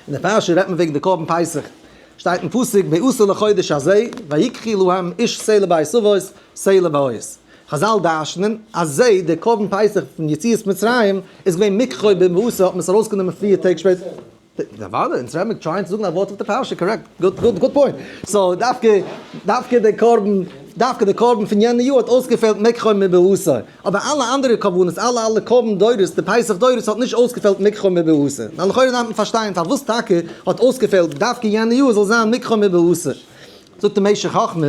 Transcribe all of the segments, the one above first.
אין די פרשה רעדט מען וועגן די קרבן פסח, שטייט אין פסוק בעשור לחודש הזה ויקחי להם איש סלע בית אבות סלע בעוהז, חזל דרש'נען אז זיי די קרבן פסח פון יציאת מצרים איז געווען מקחו במעשר האט מען עס ארויס גענומען פיר טעג שפעטער, וואלע אונז רעדן מיר טרייען צו זאגן א ווארט אויף די פרשה קארעקט גוד גוד גוד פוינט סאו דווקא דווקא די קרבן דווקא די קרבן פון יענע יאר האט אויסגעפעלט מקחו מבעשור. אבער אלע אנדערע קרבנות, אלע אלע קרבן דורות, די פסח דורות האט נישט אויסגעפעלט מקחו מבעשה, נו לכאורה דארף מען פארשטיין פארוואס טאקע האט אויסגעפעלט דווקא יענע יאר זאל זיין מקחו מבעשה, זאגט די משך חכמה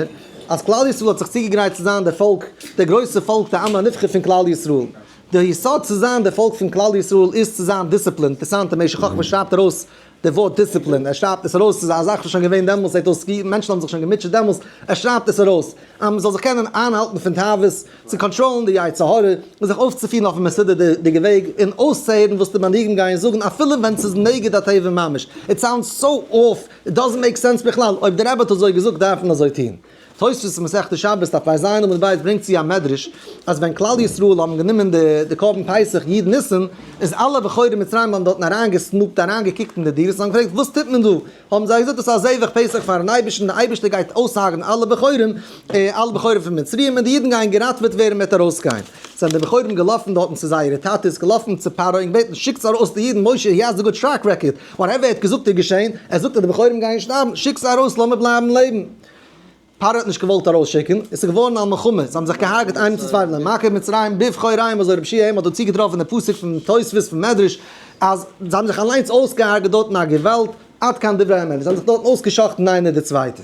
אז כלל ישראל האט זיך צוגעגרייט צו זיין דער פאלק, דער גרויסער פאלק דער עם הנבחר פון כלל ישראל, דער יסוד צו זיין דער פאלק פון כלל ישראל איז צו זיין דיסציפלינד, אינטערסאנט די משך חכמה שרייבט ארויס די ווארט דיסציפלין, ער שרייבט עס ארויס, ס'איז א זאך וואס שוין געווען דעמאלס, ער האט דאס געהיטן, מענטשן האבן זיך שוין געמוטשעט דעמאלס, ער שרייבט עס ארויס, אז מען זאל זיך קענען איינהאלטן פון תאוות, צו קאנטראלן די יצר הרע, און זיך אויפצופירן אויף א מסודר'דיגע וועג, און אויסצוהערן וואס די מנהיגים גייען זאגן, אפילו ווען ס'איז נגד הטבע ממש. איט סאונדס סאו אףף, איט דאזענט מעיק סענס בכלל, אויב דער רבי האט אזוי געזאגט דארף מען אזוי טון. תוספות אין מסכת שבת דף רז עמוד ב' ברענגט צו א מדרש אז ווען כלל ישראל האבן גענומען די קרבן פסח י' ניסן איז אלע בחורי מצרים האבן דארטן אריינגעסנופט אריינגעקוקט אין די דירות און געפרעגט וואס טוט מען דא? האבן זיי געזאגט דאס איז א זבח פסח פארן אייבערשטן די אייבערשטער גייט אויסהרג'ן אלע בחורים אלע בחורים פון מצרים און די אידן גייען געראטוועט ווערן מ'וועט ארויסגיין זענען די בחורים געלאפן דארטן צו זייערע טאטעס געלאפן צו פרעה און געבעטן שיקטס ארויס די אידן משה הי האזט א גוט טרעק רעקארד וואטעווער ער האט געזאגט איז געשען ער זאגט אז די בחורים גייען שטארבן שיקטס ארויס לאמיר בלייבן לעבן. פרעה האט נישט געוואלט ארויסשיקן, עס איז געווארן א מלחמה, זיי האבן זיך געהארגעט איינער צום צווייטן אין מכה מצרים בבחוריים, אזוי רב שי' אים האט דא צוגעטראפן די פסוק פון תוספות פון מדרש, אז זיי האבן זיך אליינס אויסגעהארגעט דארטן א געוואלד, עד כאן דברי האמת, זיי האבן זיך דארטן אויסגע'שחט'ן איינער די צווייטע.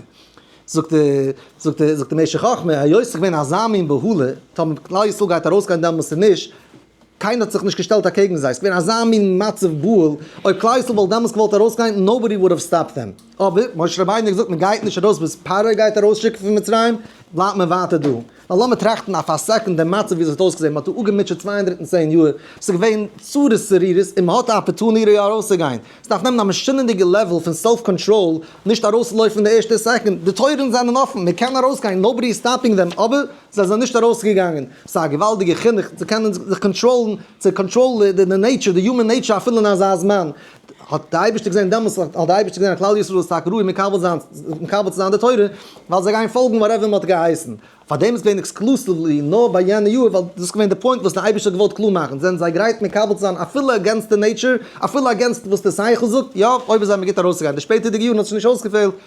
זאגט די, זאגט די, זאגט די משך חכמה, היות ס'איז געווען אזא מין בהלה, טאמער כלל ישראל גייט ארויסגיין דעמאלס צו נישט, קיינער האט זיך נישט געשטעלט אקעגן זיי, עס איז געווען אזא מין מצב גאול, אויב כלל ישראל וואלט דעמאלטס געוואלט ארויסגיין נאובאדי וואלד האוו סטאפד דעם, אבער משה רבינו האט געזאגט מען גייט נישט ארויס ביז פרעה גייט ארויסשיקן פון מצרים, בלייבט מען ווייטער דא, ווייל לאמיר טראכטן אויף א סעקונד דעם מצב ווי עס האט אויסגעזען, מען האט דא אפגעמוטשעט צוויי הונדערט און צען יאר, עס איז געווען צרות צרורות, און מען האט א אפערטונירי ארויסצוגיין, עס דארף נעמען א משונה'דיגע לעוול פון סעלף קאנטראל נישט ארויסצולויפן די ערשטע סעקונד, די טויערן זענען אפן, מען קען ארויסגיין, נאובאדי איז סטאפינג דעם, אבער זיי זענען נישט ארויסגעגאנגען, ס'איז א געוואלדיגע חינוך צו קענען זיך קאנטראלן, צו קאנטראלן די נעיטשור, די יומען נעיטשור אפילו אין אזא זמן, האט די אייבערשטער געזען דעמאלטס, האט די אייבערשטער געזען אז כלל ישראל איז טאקע ראוי מקבל זיין, מקבל צו זיין די תורה, ווייל זיי גייען פאלגן וואטעווער מען האט געהייסן, פארדעם איז געווען עקסקלוסיוולי נאר ביי יענע יאר, ווייל דאס איז געווען די פוינט וואס די אייבערשטער האט געוואלט קלאר מאכן, זענען זיי גרייט מקבל צו זיין אפילו אגענסט די נעיטשור, אפילו אגענסט וואס די שכל זאגט, יא, אויב איז זיי מיר גוט ארויסצוגיין, די שפעטערדיגע יארן האט זיך נישט אויסגעפעלט,